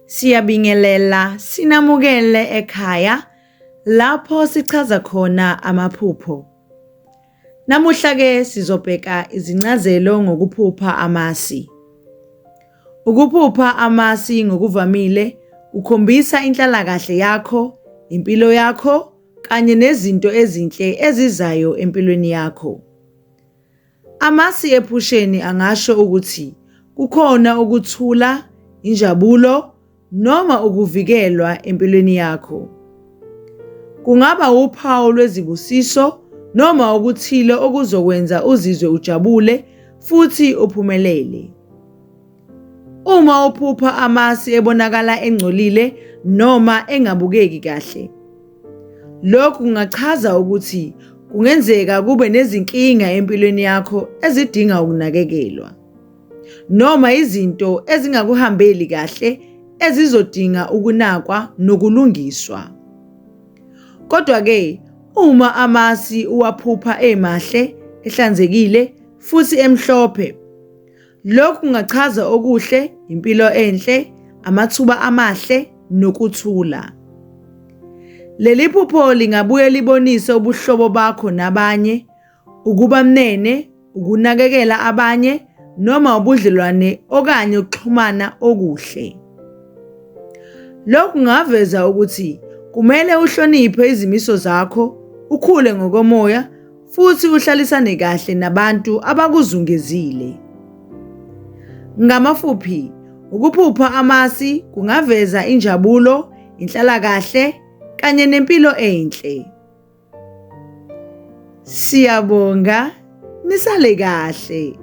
Siyabingelela sinamukele ekhaya lapho sichaza khona amaphupho. Namuhla-ke sizobheka izincazelo ngokuphupha amasi. Ukuphupha amasi ngokuvamile kukhombisa inhlalakahle yakho, impilo yakho kanye nezinto ezinhle ezizayo empilweni yakho. Amasi ephusheni angasho ukuthi kukhona ukuthula, injabulo noma ukuvikelwa empilweni yakho. Kungaba wuphawu lwezibusiso noma okuthile okuzokwenza uzizwe ujabule futhi uphumelele. Uma uphupha amasi ebonakala engcolile noma engabukeki kahle, lokhu kungachaza ukuthi kungenzeka kube nezinkinga empilweni yakho ezidinga ukunakekelwa. noma izinto ezingakuhambeli kahle ezizodinga ukunakwa nokulungiswa. Kodwa-ke, uma amasi uwaphupha emahle, ehlanzekile futhi emhlophe, lokhu kungachaza okuhle, impilo enhle, amathuba amahle nokuthula. Leli phupho lingabuye libonise ubuhlobo bakho nabanye ukuba mnene, ukunakekela abanye noma ubudlelwane okanye ukuxhumana okuhle. Lokhu kungaveza ukuthi kumele uhloniphe izimiso zakho, ukhule ngokomoya futhi uhlalisane kahle nabantu abakuzungezile. Ngamafuphi, ukuphupha amasi kungaveza injabulo, inhlalakahle kanye nempilo enhle. Siyabonga nisale kahle.